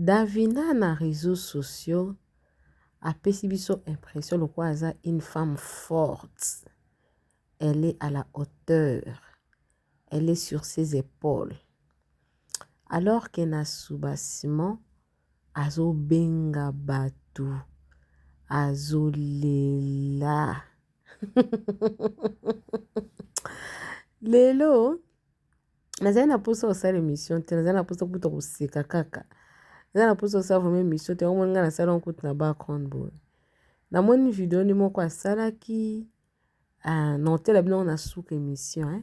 Davina na reseaux sociaux apesi biso impression lokola aza une femme forte. Elle est à la hauteur. Elle est sur ses épaules. Alors que na soubassement azobenga bato, azolela. Lelo nazali na mposa kosala émission te nazali na mposa kuta koseka kaka nazali na mposa kosala vraimen émission te yango moni ngai nasala yango kutu na background boye namoni video ni moko asalaki ah, na otela bino na suka émission eh?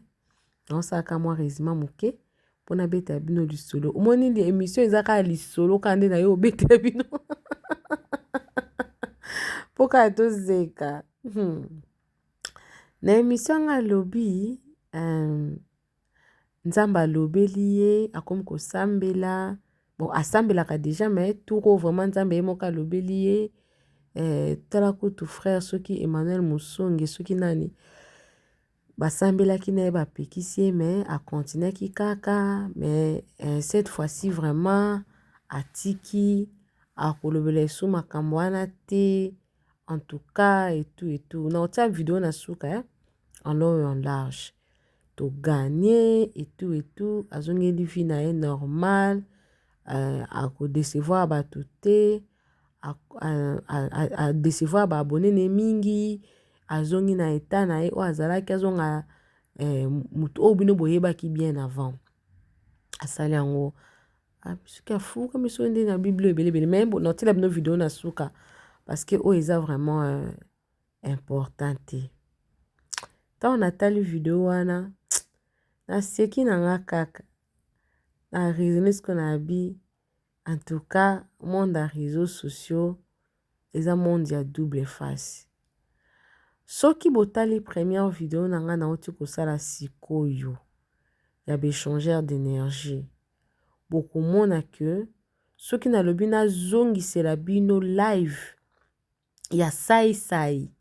naosalaka mwa résima moke mpo nabetela bino lisolo omoni nde émission eza kaka lisolo kaka nde na yo obetela bino mpo kaka tozeka hmm. Na emission yango alobi euh, nzambe alobeli ye akomi kosambela bon asambelaka deja me tour oyo vraiment nzambe ye moko alobeli ye euh, tala kutu frère soki emmanuel mosonge soki nani basambelaki na ye bapekisi ye me akontinaki kaka me euh, cette fois-ci vraiment atiki akolobela esu makambo wana te en tout cas et tout et tout na otia video na suka hein en long et en large to gagner et tout et tout azongeli vie na ye normal euh, akodecevoir bato te adecevoir baabone ne mingi azongi na etat na ye oyo azalaki azonga eh, moto oyo bino boyebaki bien avant asali yango Ah, soki afuka miso nde na biblia ebelebele me natiela bino video na suka parce que oyo eza vraiment euh, important te ntango natali video wana naseki na nga kaka na raisonne siko na abi en tout cas monde ya réseau sociaux eza monde ya double face soki botali première video na ngai nauti kosala sikoyo ya baechangeur d'énergie bokomona que soki nalobi nazongisela bino live ya sai sai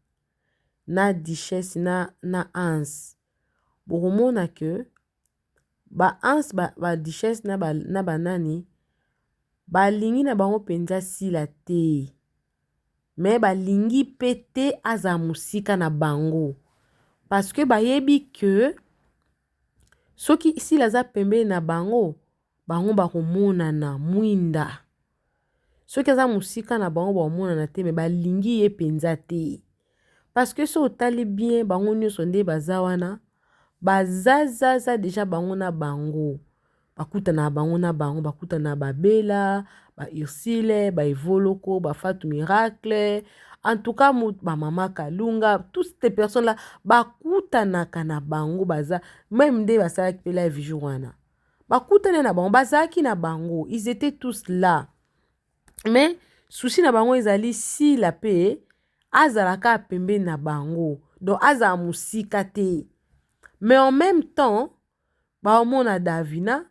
na duchesse na na Hans bokomona que ba Hans ba, ba duchesse na ba, na banani balingi na bango mpenza sila te mais balingi pe te azala musika na bango parce que bayebi que soki Sila aza pembeni na bango bango bakomonana mwinda soki aza musika na bango bakomonana te mais balingi ye penza te. Parceque soki otali bien bango nionso nde baza wana bazazaza deja bango na bango bakutana bango na bango bakutana ba bela ba ursile ba evoloko ba fatu miracle entouka ba mama kalunga tout ce personne la bakutanaka na bango baza meme nde basalaki mpe live jour wana bakutani na bango bazalaki na bango ils etaient tous la mais souci na bango ezali sila pe azala kaka pembeni na bango donc azala mosika te mais en même temps baomona davina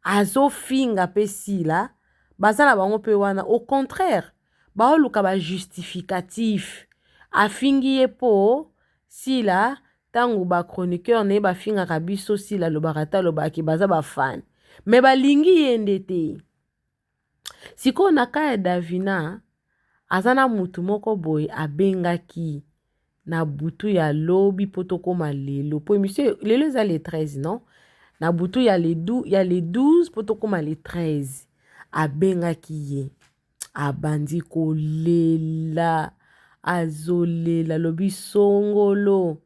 azofinga pe sila baza na bango pe wana au contraire baoluka ba justificatif afingi ye po sila ntango ba chroniqueur na ye bafingaka biso sila alobaka te alobaki baza bafane mais balingi ye nde te sikoyo na kaya davina aza na mutu moko boye abengaki na butu ya lobi mpo tokóma lelo mpo emission lelo eza le 13 non na butu ya le 12, ya le 12 mpo tokóma le 13 abengaki ye abandi kolela azolela lobi songolo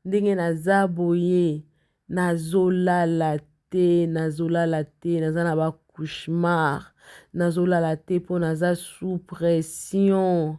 ndenge naza boye Nazolala te, nazolala te, naza na ba cauchemar. Nazolala te mpo naza sous pression.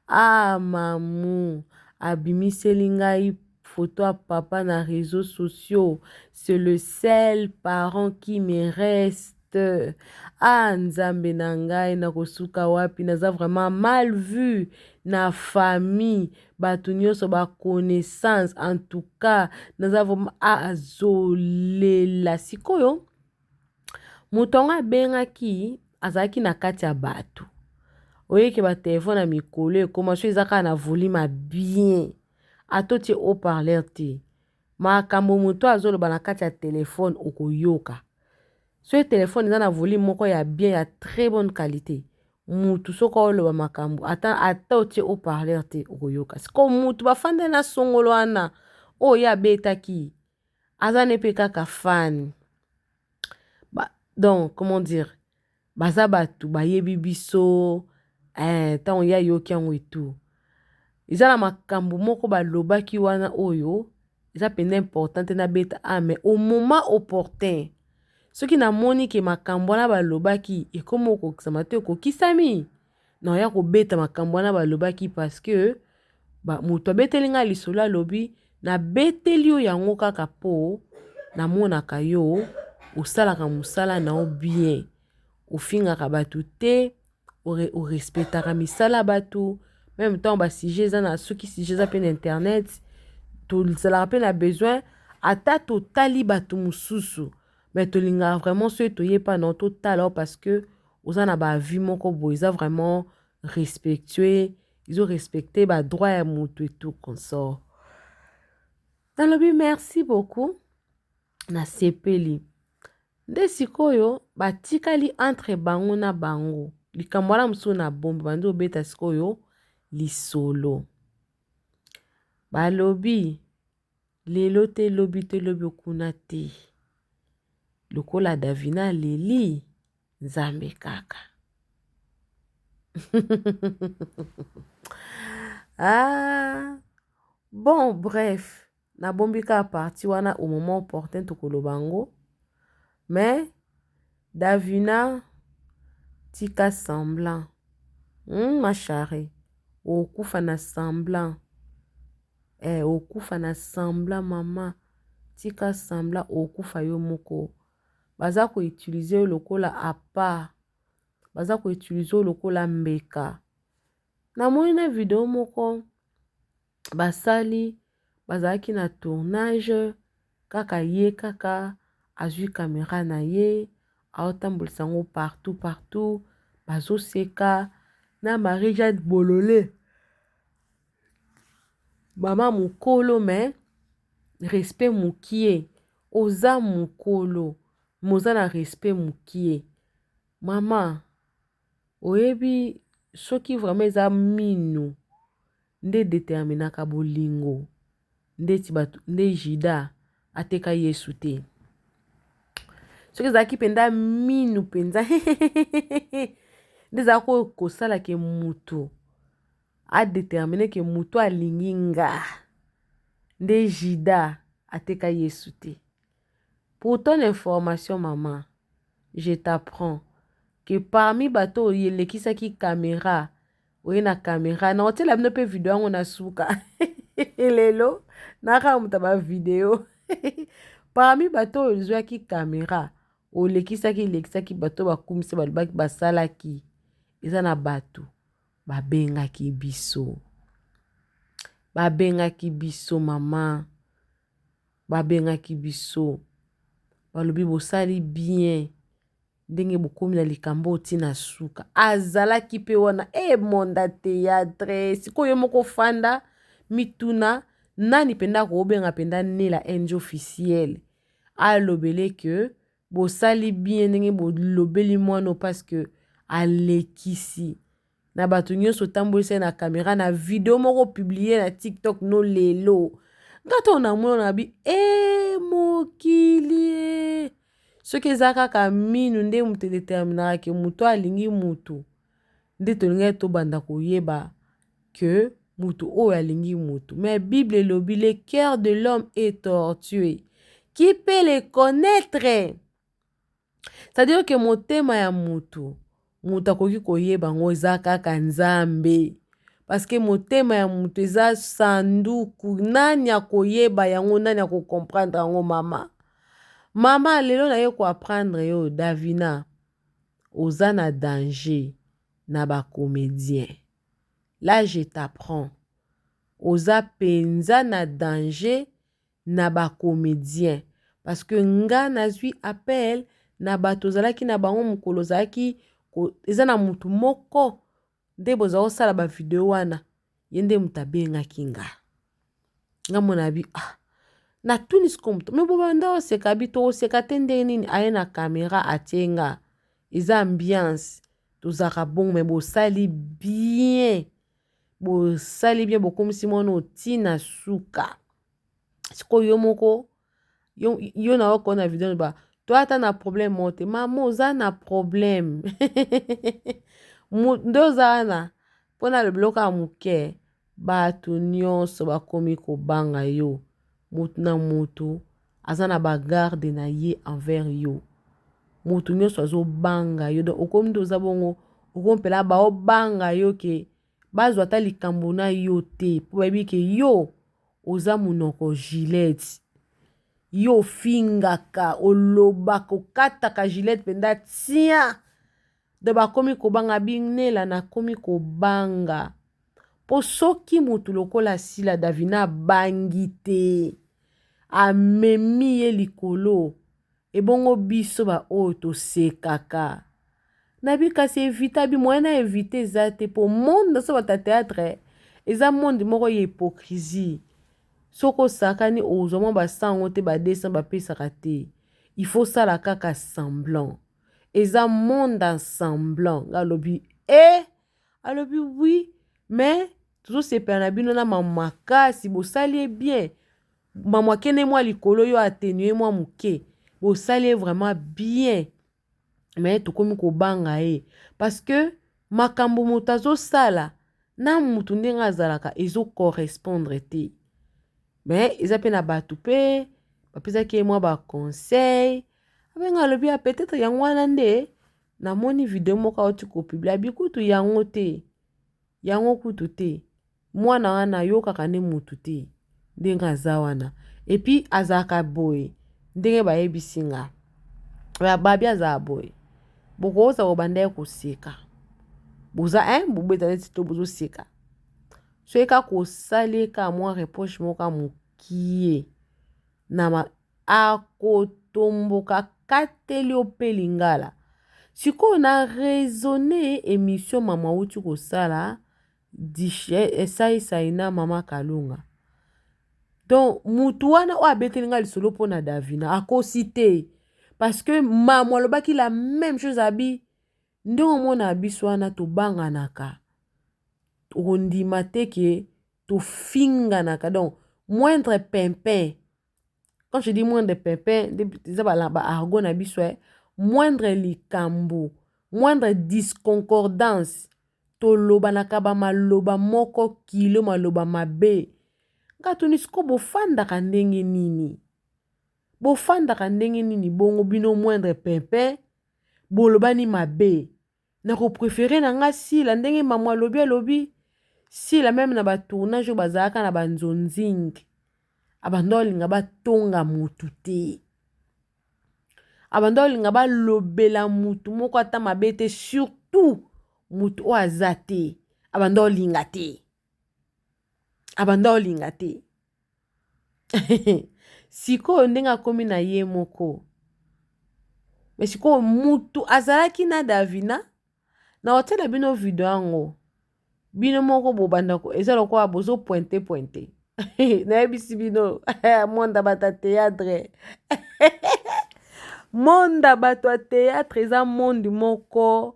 Ah mamu abimiseli ngai photo ya papa na reseaux sociaux, c'est le seul parent qui me reste. te ah nzambe na ngai nakosuka wapi naza vraiment mal vue na famille bato nyonso baconnaissance en tout cas naza vraiment ah, azolela sikoyo moto yango abengaki azalaki na kati ya bato oyeke batelefone ya mikolo ekoma so eza kaka na volume ya bien atotie haut parleur te Makambo moto oyo azoloba na kati ya telefone okoyoka. Soki telefone eza na volume moko ya bien ya très bonne qualité, mutu soki oloba makambo ata ata otie haut parleur te okoyoka. Siko mutu bafanda na songolo wana oyo ye abetaki aza ne mpe kaka fan. Ba, donc comment dire baza batu bayebi biso eh, ntango ye ayoki yango etu eza na makambo moko balobaki wana oyo eza mpenza important te nabeta a ah, mais au moment opportun soki namoni ke makambo wana balobaki ekomi okokisama to ekokisami Na oya ko beta makambo wana ba lobaki parce que ba moto abeteli nga lisolo alobi na beteli yo yango kaka po na monaka yo osalaka musala na yo bien ofingaka bato te o respectaka misala bato meme temps ba sujet eza na soki sujet eza pe na internet tozalaka pe na besoin ata totali bato mosusu mais tolingaka vraiment soki toye pa na yo totala yo parce que oza na ba vie moko boye eza vraiment respectueux izo respecte ba droit ya moto et tout consort nalobi merci beaucoup nasepeli nde sikoyo batikali entre bango na bango likambo wana mosusu na bombe bandi obeta sikoyo lisolo balobi lelo te lobi te lobi okuna te lokola davina aleli nzambe kaka ah, bon bref nabombi kaka parti wana au moment opportun tokoloba yango mais davina tika semblant hmm, ma charrie okufa na semblant Eh okufa na sembla maman tika sembla okufa yo moko baza ko utilise yo lokola appart baza ko utilise yo lokola mbeka namoni na video moko basali bazalaki na tournage Kaka ye kaka azui camera na ye aotambulisa yango partout partout bazoseka na marie jeanne bolole mama mokolo me respect mokie oza mokolo moza na respect mokie mama Oyebi soki vraiment eza minu nde edeterminaka bolingo ndeti bato nde juda ateka yesu te soki ezalaki mpenza minu mpenza nde ezalaki oyo kosala ke moto adetermine ke moto alingi nga nde juda ateka yesu te Pour ton information maman, je t'apprends que parmi bato oyo elekisaki camera, oye na camera, na otiela bino pe video yango na suka lelo na kaka moto ba video parmi bato oyo ozwaki camera olekisaki elekisaki bato bakumisi balobaki basalaki eza na bato babengaki biso babengaki biso mama babengaki biso balobi bosali bien ndenge bokomi na likambo oti na suka azalaki mpe wana e eh, monda teatre sikoyo moko fanda mituna nani mpenza akobenga mpenza nela enge officiel alobele ke bosali bien ndenge bolobeli mwano parce que alekisi na bato nyonso tambolisa ye na camera na video moko publie na tiktok no lelo nga ntango namona na bi e mokili e. soki eza kaka minu nde moto edeterminaka ke moto alingi moto nde tolingaki tobanda koyeba ke moto oyo alingi moto mais bible elobi le cœur de l'homme est tortue qui peut le connaître Cetadire ke motema ya motu, motu akoki koyeba yango eza kaka Nzambe paske motema ya motu eza sanduku nani akoyeba yango nani ako comprendre yango mama? Mama lelo naye ko apprendre yo Davina oza na danger na ba comedien là je t'apprends oza penza na danger na ba comedien parce que nga nazwi appel na bato ozalaki na bango mokolo ozalaki eza na motu moko nde boza kosala ba video wana ye nde moto abengaki nga nga mona bi ah natuni siko moto me bobanda oseka bi tokoseka te ndenge nini aye na kamera atie nga eza ambiance tozalaka bongo me bosali bien bosali bien bokomisi mwana otina suka sikoyo yo moko yo, yo na oko na video ba to ata na problème moko te mama oza na problème nde oza wana mpo na lobiloko ya moke bato nyonso bakomi kobanga yo motu na motu aza na bagarde na ye envers yo motu nyonso azobanga yo donc okomi nde oza bongo okomi mpela baobanga yo ke bazwa ata likambo na yo te mpo bayebi ke yo oza monoko gilete yo ofingaka olobaka okataka gilete mpenza tia do bakomi kobanga binela nakomi kobanga mpo soki motu lokola sila davina abangi te amemi ye likolo Ebongo biso ba oyo tosekaka nabi kasi evita bi moyen na evita eza te po monde naso bata theatre eza monde moko ya hypocrisie soki osakani ozwa mwa ba 100 yango te ba 200 bapesaka te il faut sala kaka semblant eza monde en semblant nga alobi e eh! alobi oui mais tozosepela na bino na makasi bosali ye bien Maman kende mwa likolo yo atténuer mwa muke. Bosali ye vraiment bien. Mais tokomi kobanga ye parce que makambo moto azosala na mutu ndenge azalaka ezo correspondre te. Mais eza pe na bato pe bapesaki ye mwa ba conseil. Abenga alobi ya peut-être yango wana nde namoni video moko auti kopiblia bikutu yango te yango kutu te mwana wana ayokaka nde mutu te ndenge aza wana epuis azalaka boye ndenge bayebisi nga babi azalaka boye bokokosa kobanda ye koseka boza eh bobeta neti to bozoseka soki kaka kosali ye kaka mwa reproche moko kaka mokie na ma akotomboka kateli yo mpe lingala sikoyo na raisonne emission mama auti kosala Dishe sai sai na mama kalunga donc mutu wana oyo abeteli nga lisolo mpo na davina akosi te parce que mamu alobaki la même chose abi ndenge omona biso wana tobanganaka okondima te ke tofinganaka donc moindre pimpin quand je dis moindre pimpin eza ba argot na biso eh moindre likambo moindre disconcordance tolobanaka bamaloba moko kilo maloba mabe nga tuni siko bofandaka ndenge nini bofandaka ndenge nini bongo bino moindre pimpin bolobani mabe Na ko prefere na nga Sila ndenge mamu alobi alobi Sila meme na ba tournage oyo bazalaka na ba nzonzing abanda olinga ba tonga mutu te abanda olinga ba lobela mutu moko ata mabe te surtout mutu oyo aza te abanda olinga te abanda olinga te sikoyo ndenge akomi na ye moko me sikoyo mutu azalaki na davina na hotel ya bino video yango bino moko bobanda eza lokola bozo pointe pointe nayebisi bino monda bato ya teatre monda bato ya teatre eza monde moko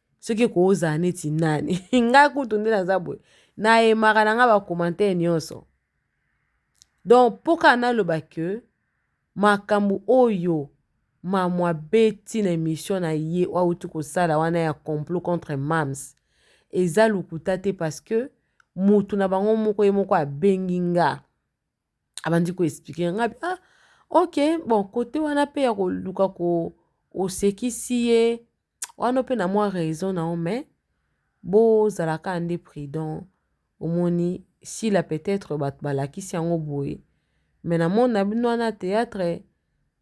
soki ekoki ozala neti nani ngai kutu nde naza boye nayemaka na ngai bacommentaire nyonso donc mpo kaka naloba ke makambo oyo mamwa beti na emission na ye oyo auti kosala wana ya complot contre mams eza lokuta te parce que motu na bango moko ye moko abengi nga abandi ko expliquer nga bi ah ok bon kote wana pe ya koluka ko osekisi ye wana pe na mwa raison na yo mais bozala kaka nde prudent omoni sila peut-être bato balakisi yango boye mais na monde na bino wana théâtre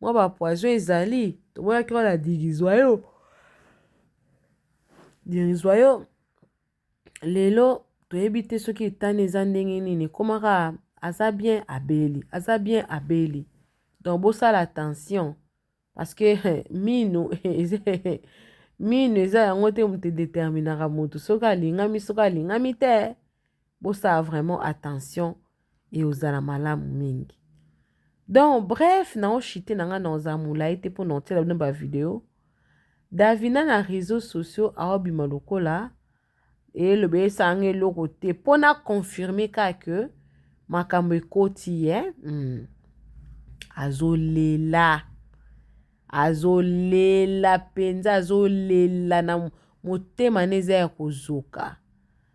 mwa bapoison ezali tomonaki wana dirizwa yo dirizwa yo lelo toyebi te soki etani eza ndenge nini ekomaka aza bien abeli aza bien abeli donc bosala attention parce que mino mino eza yango te moto edeterminaka moto soki alingami soki alingami te bosala vraiment attention eozala malamu mingi donc bref nao chite na ngai naoza molai te mpo na otiela bino bavideo davina na réseau sociaux aobima lokola eloba esanga eloko te mpo na confirme kaka ke makambo ekoti ye mm. azolela azolela mpenza azolela na motema na eza ya kozoka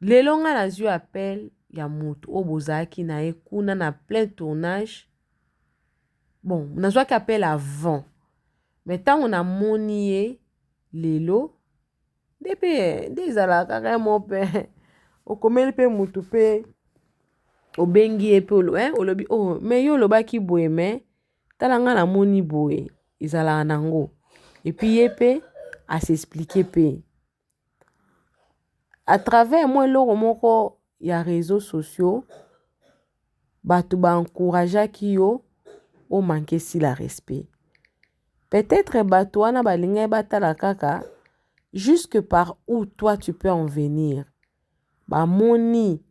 lelo nga nazwi appel ya moto oyo bozalaki na ye kuna na plein tournage bon nazwaki appel avant me ntango namoni ye lelo nde mpe nde ezalaka kaka ye mo mpe okomeli mpe motu mpe obengi ye mpe olobi o oh, me yo olobaki boye me tala ngai namoni boye ezalaka nango epuis ye mpe asexplike mpe à travers mwa eloko moko ya reseau sociaux bato ba encourageaki yo o manque esi la respect peut-etre bato wana balingaki batala kaka jusque par où toi tu peux en venir bamoni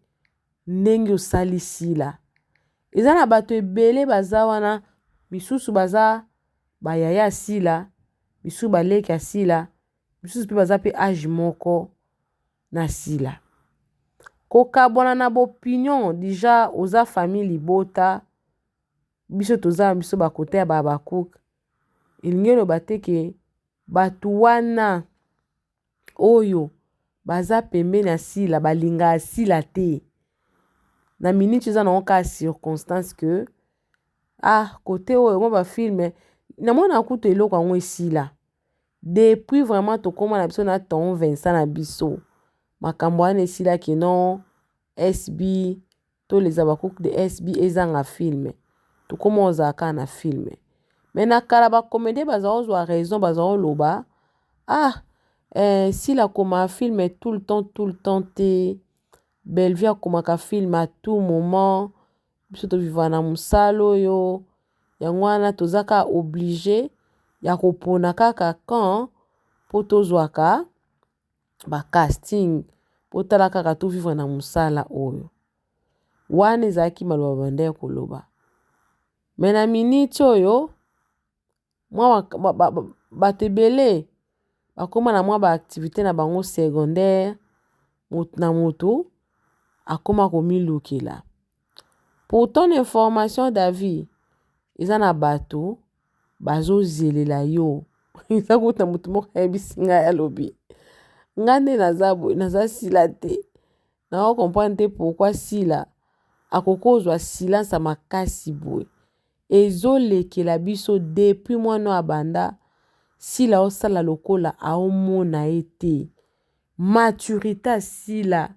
ndenge osali sila eza na bato ebele baza wana misusu baza bayaya sila misusu baleki ya sila misusu mpe baza mpe age moko na sila kokabwana na bopinion deja oza famille libota biso toza na biso bakota ya babakuk elingi eloba te ke bato wana oyo baza pembeni ya sila balinga ya sila te na miniti eza na oka circonstance ke ah kote oyo mwa bafilme namona kutu eloko yango esila Depuis vraiment tokoma na biso na ton Vincent na biso. Makambo wana esila kino SB to les Habacuc de SB ezanga film. Tokoma ozala kaka na film. Mais na kala ba comédien baza ozwa raison baza oloba ah eh, sila koma film tout le temps tout le temps te. Bellevue akomaka film à tout moment. biso to vivre na musala oyo yango wana toza ka oblige ya kopona kaka camp mpo tozwaka ba casting mpo tala kaka to vivre na mosala oyo wana ezalaki maloba babandaki koloba me na miniti oyo mwa bato ebele bakoma na mwa ba activite na bango secondaire moto na moto akoma komilukela pourtant na information david eza na bato bazozelela yo eza kota moto moko ayebisi ngai alobi ngai nde naza boye naza sila te nao comprendre te pourkui sila akoki kozwa silence makasi boye Ezo lekela biso depuis mwana oyo abanda sila osala lokola aomona ye te maturite ya sila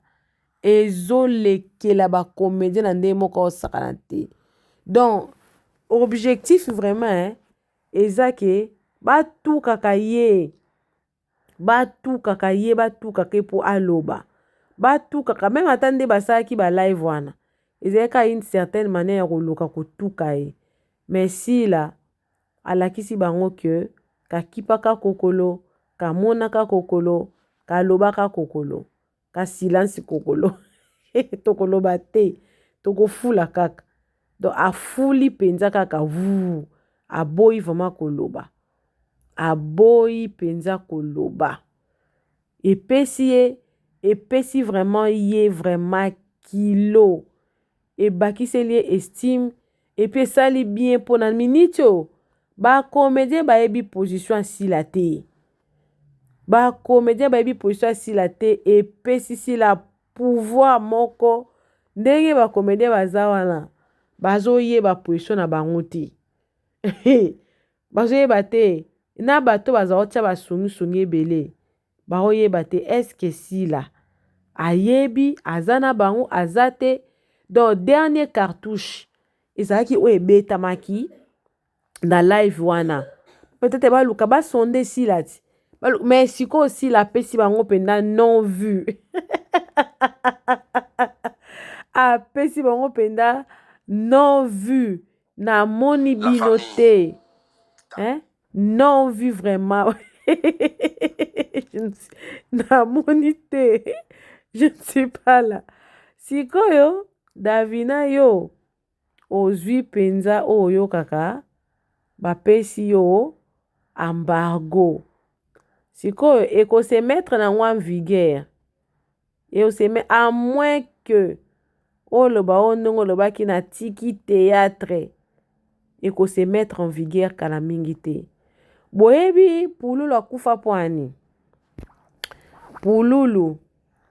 ezo lekela ba comedien na ndenge moko aosakana te donc objectif vraiment eza ke batukaka ye. batukaka ye batukaka ye mpo aloba batukaka meme ata nde basalaki ba live wana ezalaki kaka une certaine manière ya koluka kotuka ye mais sila alakisi bango ke kakipaka kokolo kamonaka kokolo kalobaka kokolo ka silence kokolo tokoloba te tokofula kaka donc afuli mpenza kaka vuu aboyi vraimen koloba aboyi mpenza koloba epesi ye epesi vraimen ye vraimen kilo ebakiseli ye estime et puis esali bien mpo na minute oyo ba comedien bayebi position ya sila te ba comedien bayebi position ya sila te epesi sila pouvoir moko ndenge ba comedien baza wana bazoyeba position na bango te bazoyeba te na bato baza kotya basungisungi ebele Bako yeba te est ce que Sila ayebi aza na bango aza te donc dernier cartouche ezalaki oyo ebetamaki na live wana peut-être baluka ba sonde Sila ti mais sikoyo Sila apesi bango mpenza non vue apesi bango mpenza non vue namoni bino te eh? non vu vraiment namoni te je ne suis pas là sikoyo davina yo ozwi mpenza oyo oyokaka bapesi yo embargo sikoyo ekosemetre na yango en vigueur Et on se met à moins que oloba oyo ndenge olobaki na tiki théâtre et qu'on se mettre en vigueur kala mingi te boyebi pululu akufa mpo ani pululu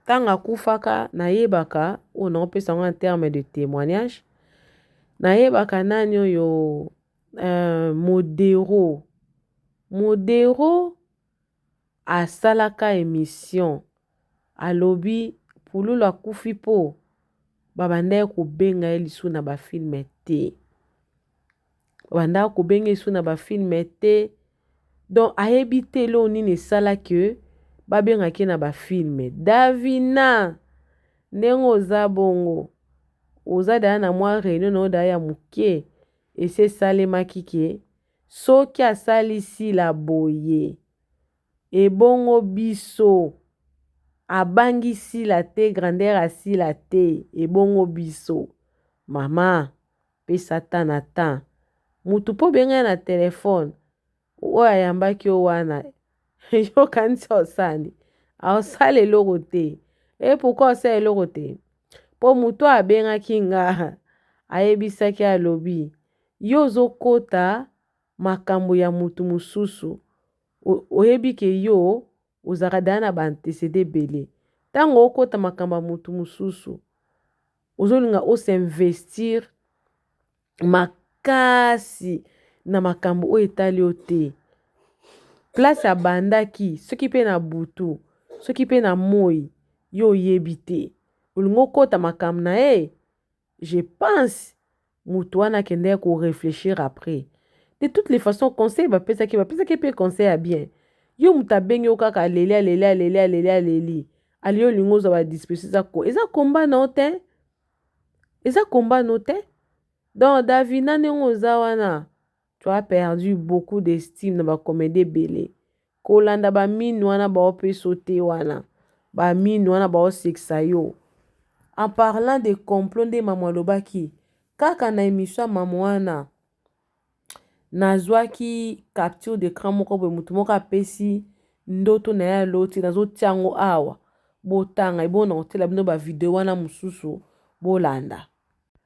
ntango akufaka nayebaka oyo naopesa yango en terme de témoignage nayebaka nani oyo euh, modero modero asalaka emission alobi pululu akufi po babandaki kobenga ye lisu na bafilme te babandaka kobenga lisu na bafilme te donc ayebi te eloo nini esala ke babengaki ye na bafilme davina ndenge oza bongo oza daya na mwa reunion na yo daya ya moke esi esalemaki ke Soki asali sila boye ebongo biso abangi sila te grandeur ya sila te ebongo biso mama pesa temps na temps mutu po obenga ye na telephone oyo ayambaki yo wana yo okanisi osali aosala eloko te e pourquoi osala eloko te po mutu oyo abengaki nga ayebisaki alobi yo ozo kota makambu ya mutu mususu oyebi ke yo ozalaka deja na ba antecede ebele tangu okota makambu ya mutu mususu ozo linga o s'investir makasi na makambu oyo etali yo te place abandaki soki pe na butu soki pe na moyi yo oyebi te olingi okota makambu naye Je pense mutu wana akendaki ko reflechir après. De toutes les façons conseil bapesaki bapesaki mpe conseil ya bien. Yo moto abengi yo kaka aleli aleli aleli aleli aleli aliyo olingi ozwa ba disposition eza ko eza komba na yo te eza komba na yo te donc davina ndenge oza wana Tu as perdu beaucoup d'estime na ba comedie ebele. Kolanda ba mine wana bao pe sauter wana. Ba mine wana bao sekisa yo. En parlant de complot nde mamu alobaki kaka na emission ya mamu wana nazwaki capture de cran moko boye motu moko apesi ndoto na ye aloti nazotia yango awa botanga ebona kotela bino bavideo wana mosusu bolanda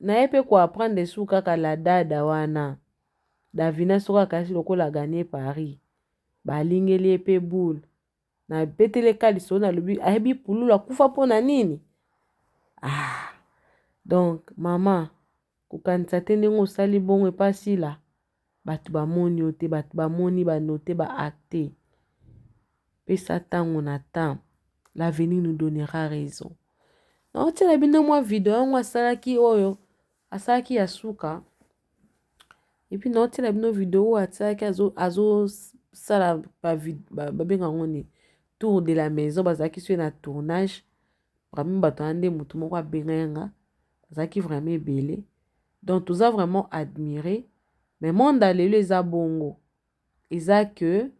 Naye pe ko apprendre esuki kaka la dada wana davina soki akayaki lokola gagne paris balingeli ye pe boule na betele kaliso na lobi ayebi pululu akufa mpo na nini ah donc mama kokanisa te ndenge osali bongo epa sila Bato bamoni yo te, bato bamoni ba note ba acte pesa tango na temps l'avenir nous donnera raison. Naotiela bino mwa video yango asalaki oyo asalaki ya suka epuis naotiela bino video oyo asalaki azosala babenga yango nini tour de la maison bazalaki soki na tournage vraiment bato wana nde moto moko abengayanga azalaki vraiment ebele Donc toza vraiment admire mais monde ya lelo eza bongo eza que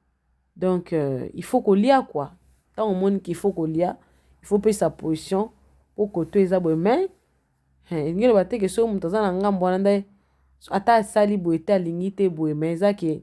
donc euh, il faut kolia quoi ntango omoni qu'il faut kolia il faut pesa position mpo koto eza boye mais elingi loba te ke soki moto aza na ngambo wana nde ata asali boye te alingi te boye mais eza ke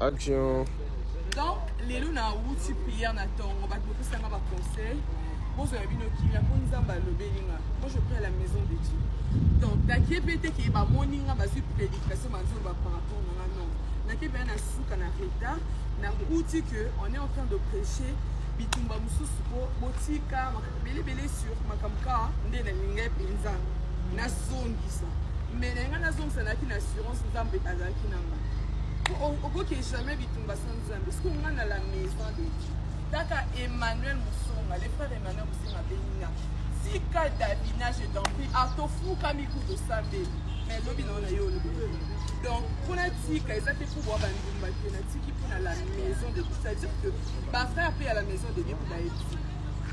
Action. Donc, lelo na wuti prière na tongo, bato bopesa nga ba conseil. Bozwa ya bino kimia mpo Nzambe alobeli nga. Moi je prie à la maison de Dieu. Donc, nakie mpe te ke bamoni nga bazwi prédication bazoloba par rapport na nga non. Nakie mpe na suka na retard, na wuti que on est en train de prêcher bitumba mosusu mpo botika belebele sur makambo kaka nde nalingai mpenza nazongisa mais na ngai nazongisa nayaki na assurance nzambe azalaki na ngai okoki jamais bitumba sans nzambe soki onga na la maison de dieu kaka emmanuel musonga le frère emmanuel musonga benina tika davina je t'en prie atofuka mikutu osambeli mais lobi nao na yo olobi donc mpona tika eza te mpo bwa bandumba te natiki mpo na la maison de dieu c'est-à-dire que bafrère mpe ya la maison de dieu mpo bayebi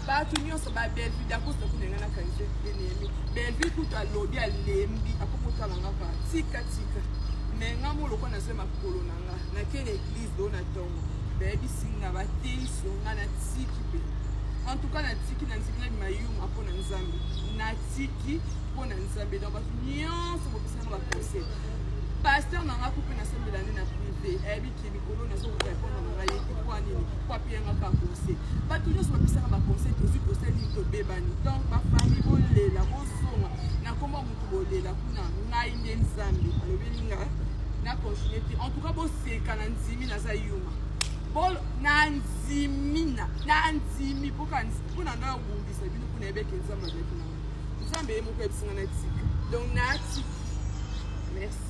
bato nyonso ba bellevue dakosta kuna nga na kanise enemi bellevue kutu alobi alembi akokotala nga pa tika tika me nga mo lokola nazwi makolo na nga nake na eglize do na ntongo bayebisi nga bateisi yo nga natiki mpe en tout cas natiki na nzikila mayuma mpo na nzambe natiki mpo na nzambe donc bato nyonso bopesanga baconseil paster na nga kupe nasambela nde na prive ayebi bato nyonso bapesaka baconseil tozwi conseil nini tobebani donc bafamille bolela bozonga nakoma motu bolela kuna ngai nde nzambe alobeli nga na continue te en tout cas boseka na ndimi naza yuma bolo nandimi nandimi mpoka mpona ngai obundisa bino mpona yebeke nzambe azalaki na nzambe ye moko yebisi ngai na tika donc natiki merci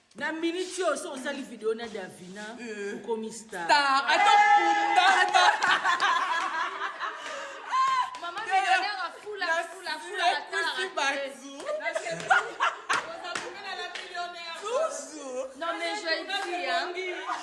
na miniti oyo soki osali video na davina euh. okomi star ata kundata Non mais je le dis, hein.